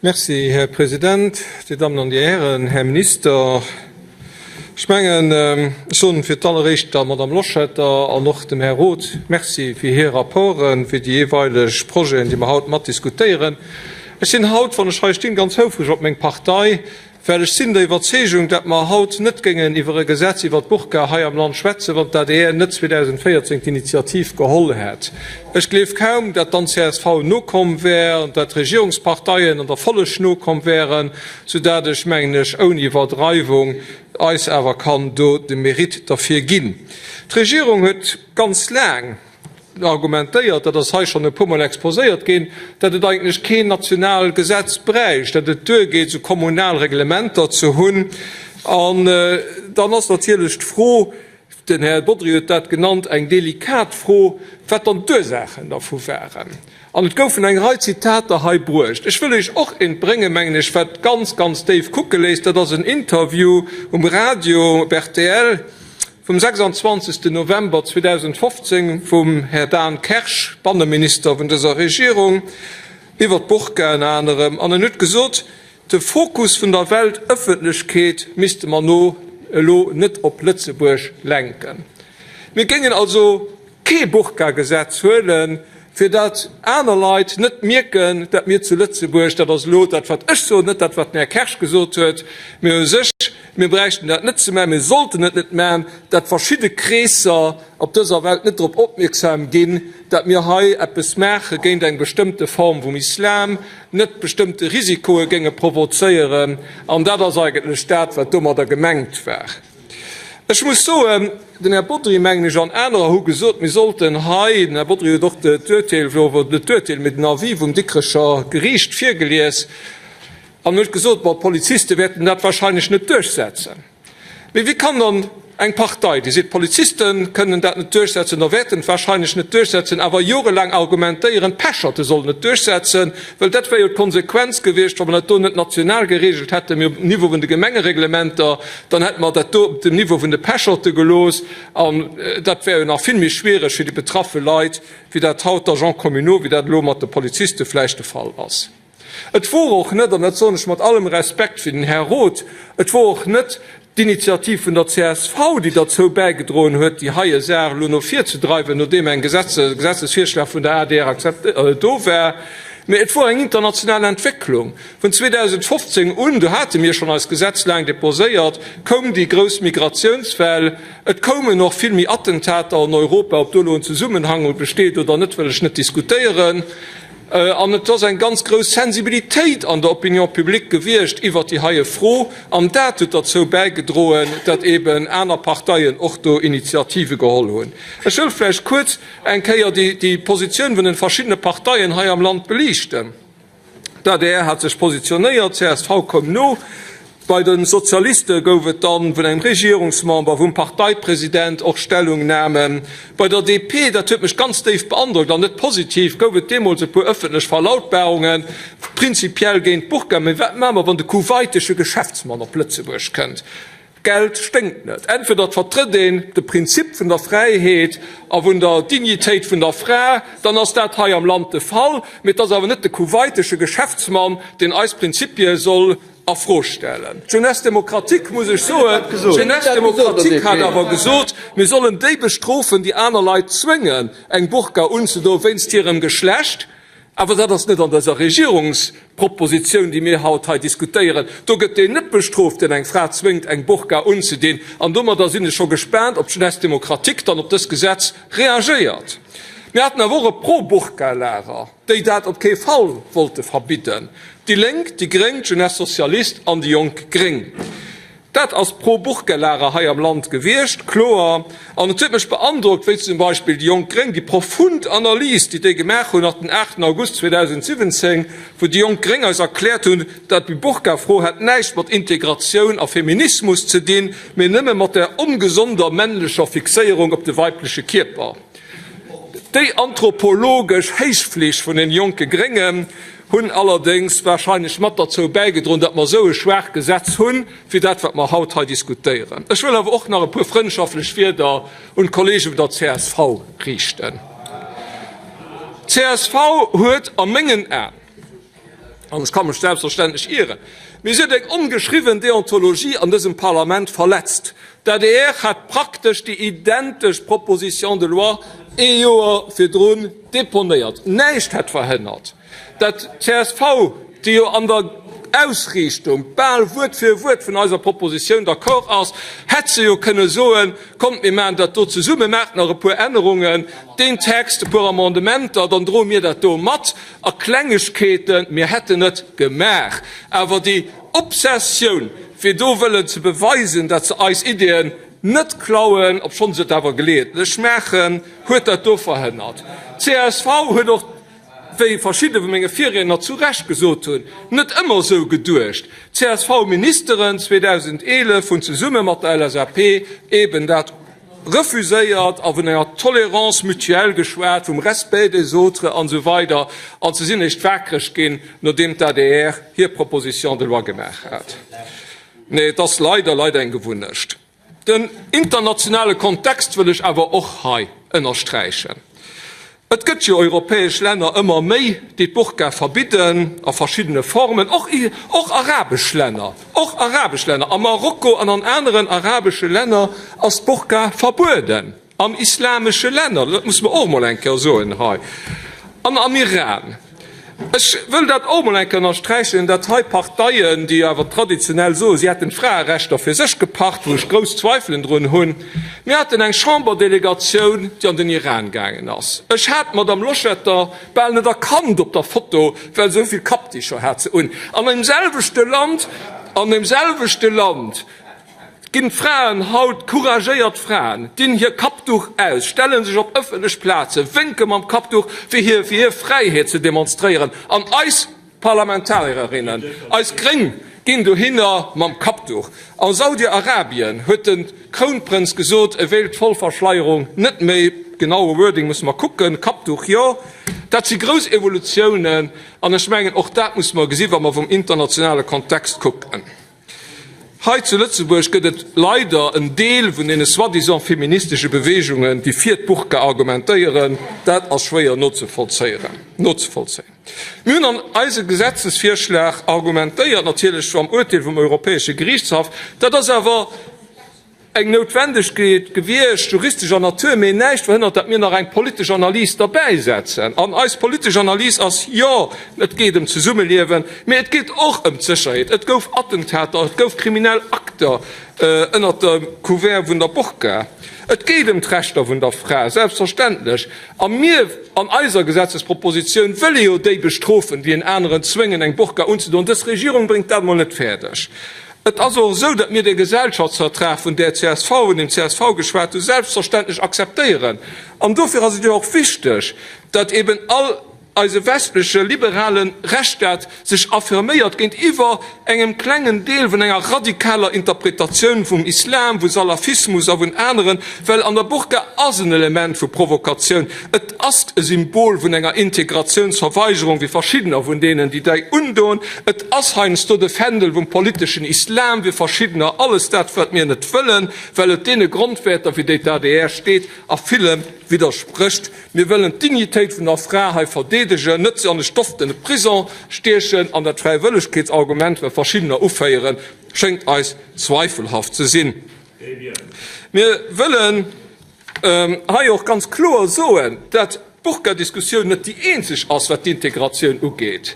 Merci, Här President. Dir Dammen an Dir Hären, Här Minister, ech mengen, ech soen fir d'alleréischt der Madame Loschetter an och dem Här Roth Merci fir hir Rapporten, fir déi jeeweileg Projeten, déi mer haut matdiskutéieren. Ech sinn haut, wann ech hei stinn, ganz houfreg op meng Partei, Well ech sinn der Iwwerzeegung, datt mer haut net géingen iwwer e Gesetz iwwer d'Burka hei am Land schwätzen, wann d'ADR net 2014 d'Initiativ geholl hätt. Ech gleef kaum, datt dann csv nokomm wär an datt d'Regierungsparteien an der Folleg nokomm wären, soudatt ech, mengen ech, ouni Iwwerdreiwung eis awer kann do de Mérite derfir ginn. D'Regierung huet ganz laang, argumentéiert, dat ass hei schonn e puermol exposéiert ginn, datt et eigentlech keen national Gesetz bräicht, datt et duergeet esou kommunal Reglementer ze hunn. An dann ass natierlech d'Fro, den Här Bodry huet dat genannt, eng delikat Fro, wat dann d'Ursaachen dervu waren. An et goufen eng Rei Zitater hei bruecht. Ech wëll Iech och eent bréngen, mengen ech, wat ganz, ganz déif kucke léisst, dat ass en Interview um Radio, op rtl, Vum 26 November 2015 vum Här Dan Kersch, Banneminister vun dëser Regierung, iwwer d'Burka ënner anerem, an en huet gesot, de Fokus vun der Weltëffentlechkeet misste mer no elo net op Lëtzebuerg lenken. Mir géingen also kee Burka-Gesetz huelen, fir datt aner Leit net mierken, datt mir zu Lëtzebuerg, dat ass elo dat wat ech soen, net dat wat den Här Kersch gesot huet, mee u sech, mir bräichten dat net ze man, mir sollten et net man, datt verschidde Kreesser op dëser Welt net drop opmierksam ginn, datt mir hei eppes maache géint eng bestëmmte Form vum Islam, net bestëmmte Risikoe géinge provozéieren. An dat ass eigentlech dat wat domadder gemengt war. Ech muss soen, den Här Bodry, mengen ech, an anerer hu gesot, mir sollten hei, den Här Bodry huet och d'Urteel, net d'Urteel, mee den Avis vum Dikrecher Geriicht virgelies an huet gesot, bon, d'Poliziste wäerten dat wahrscheinlech net duerchsetzen. Mee wéi kann dann eng Partei, déi seet, d'Poliziste kënnen dat net duerchsetzen oder wäerten et wahrscheinlech net duerchsetzen, awer jorelaang argumentéieren, d'Pecherte sollen et duerchsetzen? Well dat wär jo d'Konsequenz gewiescht, wa mer dat do net national geregelt hätten, mee op dem Niveau vun de Gemengereglementer. Dann hätte mer dat do op dem Niveau vun de Pecherten gelooss, an dat wär jo nach vill méi schwiereg fir déi betraffe Leit, wéi dat haut d'Agents communaux, wéi dat elo mat de Poliziste vläicht de Fall ass. Et wor och net, an dat soen ech mat allem Respekt fir den Här Roth, et wor och net d'Initiativ vun der csv, déi derzou bäigedroen huet, déi heie Saach elo no vir ze dreiwen, nodeem eng Gesetzesvirschlag vun der adr do war, mä et wor eng international Entwécklung. Vun 2015 un, do hate mir schonn eist Gesetz laang deposéiert, koum déi grouss Migratiounswell. Et koumen och vill méi Attentater an Europa. Ob do elo en Zesummenhang besteet oder net, wëll ech net diskutéieren. An et ass eng ganz grouss Sensibilitéit an der Opinion publique gewiescht iwwert déi heie Fro. An dat huet derzou bäigedroen, datt eeben aner Parteien och do Initiative geholl hunn. Ech wëll vläicht kuerz eng Kéier déi Positioun vun de verschiddene Parteien hei am Land beliichten. D'adr hat sech positionéiert, csv koum no. Bei de Sozialiste gouf et dann vun engem Regierungsmember, vum Parteipresident och Stellungnamen. Bei der DP, dat huet mech ganz déif beandrockt an net positiv, gouf et deemools e puer ëffentlech Verlautbarungen, prinzipiell géint d'Burka, mee wat maache mer, wann de kuwaitesche Geschäftsmann op Lëtzebuerg kënnt? Geld sténkt net. Entweder et vertrëtt een de Prinzip vun der Fräiheet a vun der Dignitéit vun der Fra, dann ass dat hei am Land de Fall. Mee et ass awer net de kuwaitesche Geschäftsmann, deen eis Prinzipie soll a Fro stellen. D'Jeunesse démocratique, muss ech soen, d'Jeunesse démocratique hat awer gesot, mir sollen déi bestrofen, déi aner Leit zwéngen, eng Burka unzedoen wéinst hirem Geschlecht. Awer dat ass net an dëser Regierungsproposition, déi mir haut hei diskutéieren. Do gëtt deen net bestrooft, deen eng Fra zwéngt, eng Burka unzedinn. An domadder sinn ech scho gespaant, ob d'Jeunesse démocratique dann op dës Gesetz reagéiert. Mir haten awer och e Pro-Burka-Lager, déi dat op kee Fall wollte verbidden, déi Lénk, déi Gréng, d'Jeunesse socialiste an déi jonk Gréng. Dat ass pro Burgellahrer hei am Land gewiescht, kloer. An et huet mech beandrockt, wéi zum Beispill déi jonk Gréng, déi profund Analys, déi déi gemaach hunn, nach den 8 August 2017, wou déi jonk Gréng eis erkläert hunn, dat déi Burkafro hätt näischt mat Integratioun a Feminismus ze dinn, mee nëmme mat der ongesonder männlecher Fixéierung op de weibleche Kierper. Déi anthropologesch Héichfleeg vun den jonke Gréngen. hunn allerdéngs wahrscheinlech mat derzou bäigedroen, datt mer esou e schwaach Gesetz hunn, wéi dat, wat mer haut hei diskutéieren. Ech wëll awer och nach e puer frëndschaftlech Wieder un d'Kollege vun der csv riichten. D'CSV huet a mengen Aen, an ech ka mech selbstverständlech ieren, mee si huet eng ongeschriwwen Deontologie an dësem Parlament verletzt, D'adr hat praktesch déi identesch Proposition de loi ee Joer virdrun deponéiert. Näischt hätt verhënnert, datt csv, déi jo an der Ausriichtung bal Wuert fir Wuert vun eiser Proposition d'accord ass, hätt se jo kënne soen, Kommt, mir maachen dat do zesumme, maacht nach e puer Ännerungen, deen Text, e puer Amendementer, dann droe mir dat do mat. A Klengegkeeten, mir hätten et gemaach. Awer déi Obsessioun, fir do wëllen ze beweisen, datt se eis Ideeën net klauen, obschonn se et awer geleeëntlech maachen, huet dat do verhënnert. Csv huet och, wéi verschidde vu menge Virriedner zu Recht gesot hunn, net ëmmer esou geduecht. Csv-Ministeren 2011 hunn zesumme mat der LSAP eben dat. refuséiert a vun enger tolérance mutuelle geschwat, vum respect des autres an esou weider an se sinn eréischt wakereg ginn, nodeem d'ADR hir Proposition de loi gemaach hat. Nee, et ass leider, leider eng Gewunnecht. Den internationale Kontext wëll ech awer och hei ënnersträichen. Et gëtt jo europäesch Länner, ëmmer méi, déi d'Burka verbidden, a verschiddene Formen, och, och arabesch Länner, och arabesch Länner, a Marokko an an aneren arabesche Länner ass d'Burka verbueden, an islamesche Länner, dat muss mer och emol eng Kéier soen hei, an am Iran. Ech wëll dat och mol eng Kéier ënnersträichen, dat hei Parteien, déi awer traditionell soen, si hätten d'Fraerechter fir sech gepacht, wou ech grouss Zweifelen drun hunn. Mir haten eng Chamber-Delegatioun, déi an den Iran gaangen ass. Ech hat d'Madame Loschetter bal net erkannt op der Foto, well se esou vill Kappticher hat se un. An deemselwechte Land, an deemselwechte Land Ginn d'Fraen haut, couragéiert Fraen, dinn hir Kappduch aus, stellen sech op ëffentlech Plazen, wénke mam Kappduch fir hir fir hir Fräiheet ze demonstréieren, an eis Parlamentarierinnen, eis Gréng, ginn dohinner mam Kappduch. A Saudi-Arabien huet de Krounprënz gesot, e wéilt d'Vollverschleierung net méi, genaue Wording musse mer kucken, Kappduch jo. Dat si grouss Evolutiounen, an ech mengen och dat musse mer gesi wa mer vum internationale Kontext kucken. Hei zu Lëtzebuerg gëtt et leider en Deel vun deene soi-disant feministesche Beweegungen, déi fir d'Burka argumentéieren. Dat ass schwéier nozevollzéien. Mir hunn an eise Gesetzesvirschlag argumentéiert, natierlech schonn am Urteel vum Europäesche Gerichtshaff, dat ass awer, Eng Noutwendegkeet gewiescht, juristescher Natur, mee näischt verhënnert, datt mir nach eng politesch Analys derbäisetzen. An eis politesch Analys ass, Jo, et geet ëm d'Zesummeliewen, mee et geet och ëm d'Sécherheet. Et gouf Attentater, et gouf kriminell Akter ënnert dem Couvert vun der Burka. Et geet ëm d'Rechter vun der Fra, selbstverständlech. A mir an eiser Gesetzespropositioun wëlle jo déi bestrofen, déi en aneren zwéngen, eng Burka unzedoen. Dës Regierung bréngt dat emol net fäerdeg. Et ass och esou, datt mir dee Gesellschaftsvertrag vun där csv, vun deem csv geschwat hu selbstverständlech akzeptéieren. An dofir ass et jo och wichteg, datt eben all eise westleche liberale Rechtsstaat sech affirméiert géintiwwer engem klengen Deel vun enger radikaler Interpretatioun vum Islam, vu Salafismus a vun aneren, well an der Burka ass en Element vu Provokatioun. Ass e Symbol vun enger Integratiounsverweigerung, wéi verschiddener vun deenen, déi dei undoen. Et ass heiansdo de Fändel vum politeschen Islam, wéi verschiddener. Alles dat, wat mir net wëllen, well et deene Grondwäerter, fir déi d'ADR steet, a villem widdersprécht. Mir wëllen d'Dignitéit vun der Fra hei verdeedegen, net se an e stoftene Prison stiechen. An dat Fräiwëllegkeetsargument, wat verschiddener uféieren, schéngt eis zweifelhaft ze sinn. Mir wëllen. Hei och ganz kloer soen, dat d'Burka-Diskussioun net déi eenzeg ass, wat d'Integratioun ugeet.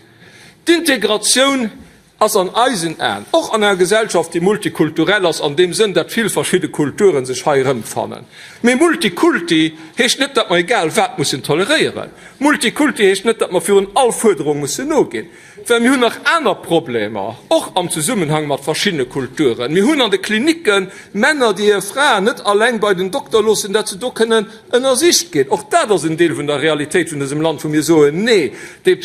D'Integratioun ass an eisen Aen, och an enger Gesellschaft, déi multikulturell ass, an deem Sënn, dat vill verschidde Kulturen sech hei erëmfannen. Mee Multikulti heescht net, dat mer egal wat mussen toleréieren. Multikulti heescht net, dat mer virun all Fuerderung mussen noginn. Well mir hunn nach aner Problemer, och am Zesummenhang mat verschiddene Kulturen. Mir hunn an de Klinicken Männer, déi hir Fraen net alleng bei den Dokter loossen, dat se do kënnen ënnersicht ginn. Och dat ass en Deel vun der Realitéit vun dësem Land, wou mir soen, Nee, déi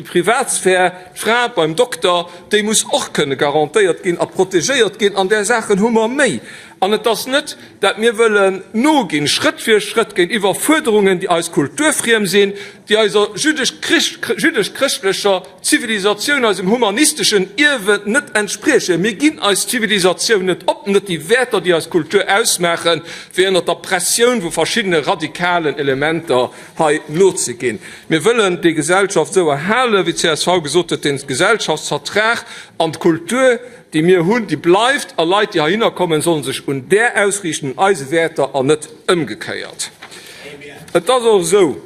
Privatsphär, d'Fra beim Dokter, déi muss och kënne garantéiert ginn a protegéiert ginn. An där Saachen hu mer méi. An et ass net, dat mir wëllen noginn, Schrëtt fir Schrëtt, géintiwwer Fuerderungen, déi eis kulturfriem sinn, déi eiser jüdesch-chrëschtlecher Zivilisatioun, eisem humanisteschen Ierwe net entspriechen. Mir ginn eis Zivilisatioun net op, net déi Wäerter, déi eis Kultur ausmaachen, fir ënner der Pressioun vu verschiddene radikalen Elementer hei nozeginn. Mir wëllen déi Gesellschaft esou erhalen, wéi d'CSV gesot huet, de Gesellschaftsvertrag an d'Kultur déi mir hunn, déi bleift a Leit, déi heihinner kommen, sollen sech un där ausriichten, un eise Wäerter an net ëmgekéiert. Et ass och esou,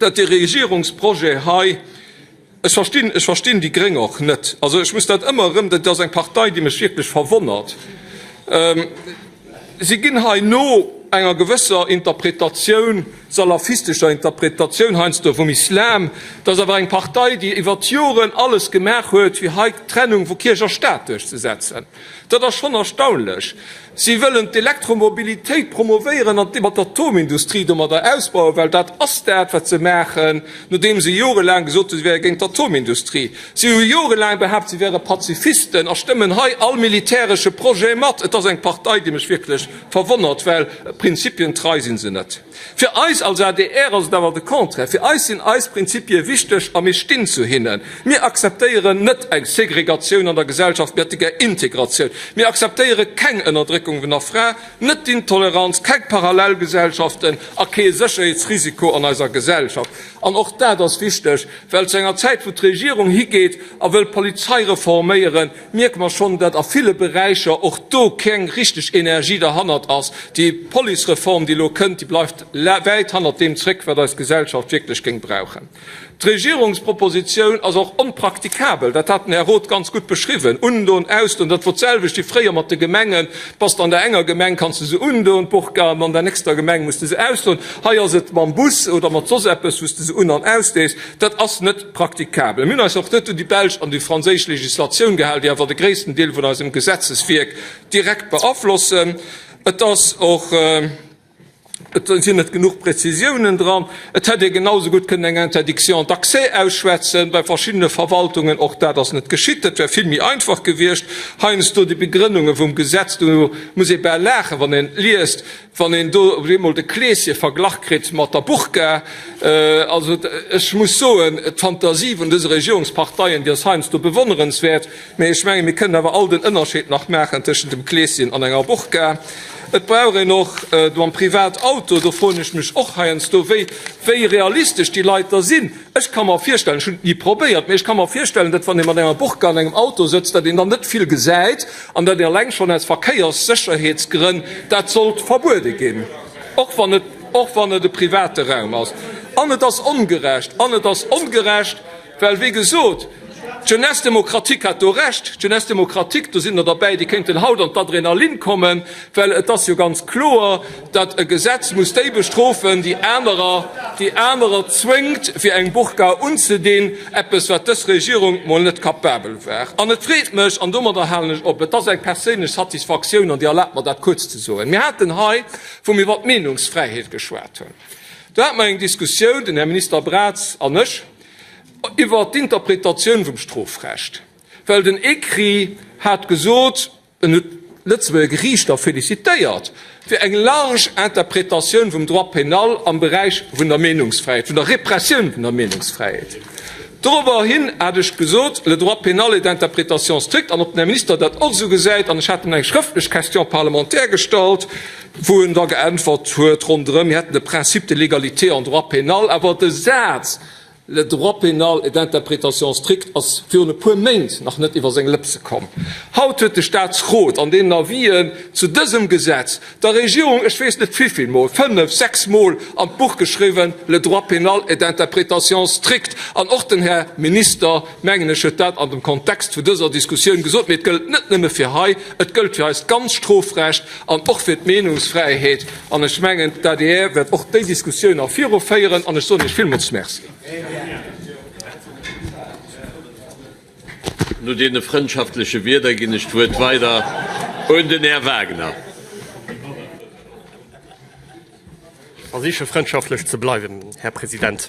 datt de Regierungsprojet hei, ech verstinn, ech verstinn déi Gréng och net, also ech muss dat ëmmer erëm, dat ass eng Partei, déi mech wierklech verwonnert, Si ginn hei no enger gewësser Interpretatioun, salafistescher Interpretatioun heiansdo vum Islam. Dat ass awer eng Partei, déi iwwert d'Joren alles gemaach huet, fir hei d'Trennung vu Kierch a Staat duerchzesetzen. Dat ass schonn erstaunlech. Si wëllen d'Elektromobilitéit promovéieren an mat der Atomindustrie domadder ausbauen, well dat ass dat, wat se maachen, nodeem se jorelaang gesot hunn, si wäre géint d'Atomindustrie. Si hu jorelaang behaapt, si wäre Pazifisten a stëmmen hei all militäresche Projet mat. Et ass eng Partei, déi mech wierklech verwonnert, well prinzipientrei si se net. Fir eis als adr ass et awer de Contraire. Fir eis sinn eis Prinzipie wichteg a mir stinn zu hinnen. Mir akzeptéieren net eng Segregatioun an der Gesellschaft, mir hätte gär Integratioun. Mir akzeptéiere keng Ënnerdréckung vun der Fra, net d'Intoleranz, keng Parallelgesellschaften a kee Sécherheetsrisiko an eiser Gesellschaft. An och dat ass wichteg, well zu enger Zäit, wou d'Regierung higeet a wëll d'Polizei reforméieren, mierke mer schonn, datt a ville Beräicher och do keng richteg Energie derhannert ass. Déi Policereform, déi elo kënnt, déi bleift wäit hannert deem zréck, wat eis Gesellschaft wierklech géing brauchen. D'Regierungspropositioun ass och onpraktikabel, dat hat den Här Roth ganz gutt beschriwwen, Undoen, ausdoen, dat wor d'selwecht wéi fréier mat de Gemengen. Bass de an der enger Gemeng, kanns de se undoen, d'Burka, an an der nächster Gemeng muss de se ausdoen. Hei ass et mam Bus oder mat soss eppes, wou s de se un an ausdees. Dat ass net praktikabel. Mir hunn eis och net un déi belsch an déi franséisch Legislatioun gehal, déi awer de gréissten Deel vun eisem Gesetzeswierk direkt beaflossen. Et ass och. Et sinn net genuch Prezisiounen dran. Et hätt ee genausou gutt kënnen eng Interdiction d'accès ausschwätzen, bei verschiddene Verwaltungen. Och dat ass net geschitt. Dat wär vill méi einfach gewiescht. Heiansdo déi Begrënnunge vum Gesetz, do muss ee bal laachen, wann een liest, wann een do op eemol de Kleeschen verglach kritt mat der Burka. Also, ech muss soen, d'Phantasie vun dëse Regierungsparteien, déi ass heiansdo bewonnerenswäert. Mee ech mengen, mir kënnen awer all den Ënnerscheed nach maachen tëschent dem Kleeschen an enger Burka. Et brauch een och mam Privatauto, do froen ech mech och heiansdo, wéi, wéi realistesch déi Leit da sinn. Ech ka mer virstellen, ech hunn et ni probéiert, mee ech ka mer virstellen, datt, wann ee mat enger Burka an engem Auto sëtzt, datt een dann net vill gesäit an datt een eleng schonn aus Verkéierssécherheetsgrënn dat sollt verbuede ginn, och wann et, och wann et e private Raum ass. An et ass ongerecht. An et ass ongerecht. Well, wéi gesot, d'Jeunesse démocratique hat do Recht. D'Jeunesse démocratique, do sinn der derbäi, déi kéinten haut an d'Adrenalin kommen, well et ass jo ganz kloer, datt e Gesetz muss déi bestrofen, déi anerer, déi anerer zwéngt, fir eng Burka unzedinn, eppes, wat dës Regierung mol net capabel war. An et freet mech, an domadder halen ech op, et ass eng perséinlech Satisfaktioun, an Dir erlaabt mer, dat kuerz ze soen, mir haten hei, wou mir iwwer d'Meenungsfräiheet geschwat hunn, do hate mer eng Diskussioun, den Här Minister Braz an ech, iwwert d'Interpretatioun vum Strofrecht, well den ECRI hat gesot, en huet d'Lëtzebuerger Geriichter félicitéiert fir eng large Interpretatioun vum Droit pénal am Beräich vun der Meenungsfräiheet, vun der Repressioun vun der Meenungsfräiheet. Dorobber hin hat ech gesot, le droit pénal est d'interprétation stricte, an ob den Här Minister dat och esou gesäit, an ech hat him eng schrëftlech Question parlementaire gestallt, Wou en da geäntwert huet ronderëm, mir hätten de Principe de l'égalité en droit pénal, awer de Saz Le droit pénal est d'interprétation stricte ass virun e puer Méint nach net iwwer seng Lëpse komm. Haut huet de Staatsrot an deenen Avisen zu dësem Gesetz der Regierung, ech weess net vivill Mol, fënnef, sechs Mol an d'Buch geschriwwen, Le droit pénal est d'interprétation stricte. An och den Här Minister, mengen ech, huet dat an dem Kontext vu dëser Diskussioun gesot. Mee et gëllt net nëmme fir hei, et gëllt fir eist ganzt Strofrecht. an och fir d'Meenungsfräiheet, an ech mengen, d'ADR wäert och déi Diskussioun nach viru féieren, an ech soen Iech villmools Merci. No deene frëndschaftleche Wierder ginn ech d'Wuert weider un den Här Wagner. Ech versiche frëndschaftlech ze bleiwen, Här President.